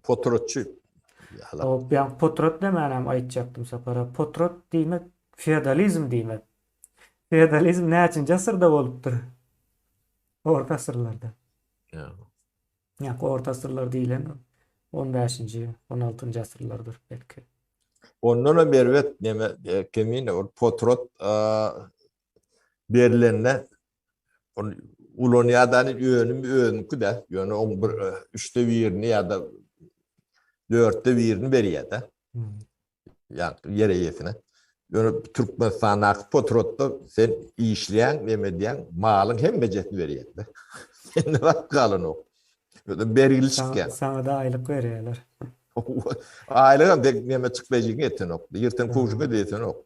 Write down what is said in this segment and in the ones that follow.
Potratçy. Ýa-ha. Potrat demän hem aýtjakdym Sapara. Potrat diýmek feodalizm diýmek. Feodalizm näçinji asyrda bolupdyr? Orta asyrlarda. Ýa-ha. Orta asyrlar diýlen on bäşinji, on altynjy asyrlardyr belki. Ondan hem erbet neme, Kemine, ol potrat berilende Ol ulanýadany önüm özüniňki-de, ýöne oň bir üçde birini ýa-da dörtde birini berýär-de. Ýa-da ýer eýesine. Ýöne Türkmenistandaky potrodda sen işleýäň, näme edýäň, malyň hemmejesini berýär-de. Sende zat galanok. Özem bergili çykýar. Saňa-da aýlyk berýärler. Aýlygam dek näme çykdaýjygyňy etenok. Ýyrtan kowşuňa-da etenok.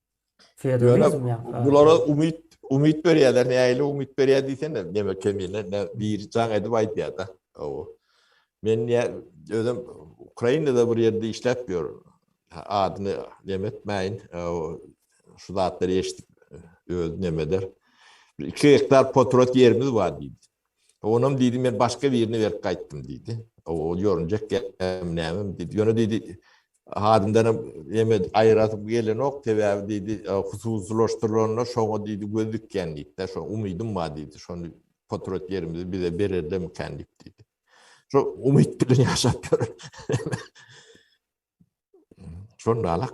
Ýöne bulara umyt, umyt berýärler, nähili umyt berýär diýsen, näme kemine, ne biri jaň edip aýdýar-da. Owo. Men ýa özüm Ukrainada bir ýerde işläp ýörün. Adyny näme etmäýin, şu zatlary eşidip öz nämedir. Bir iki gektar potrot ýerimiz bar diýdi. Onam diýdi, men başga birini berip gaýtdym diýdi. Ol ýorunjak gämi nämem diýdi. Ýöne diýdi, adyndanam ýeme aýyrasym gelenok, sebäbi diýdi, hususylaşdyrylanlar şoňa diýdi göz dikýän diýdi-de, şo umydym bar diýdi, şony potrat ýerimizi bize bererlermikan diýip diýdi. Şo umyt bilen ýaşap ýörün. Şonda alak.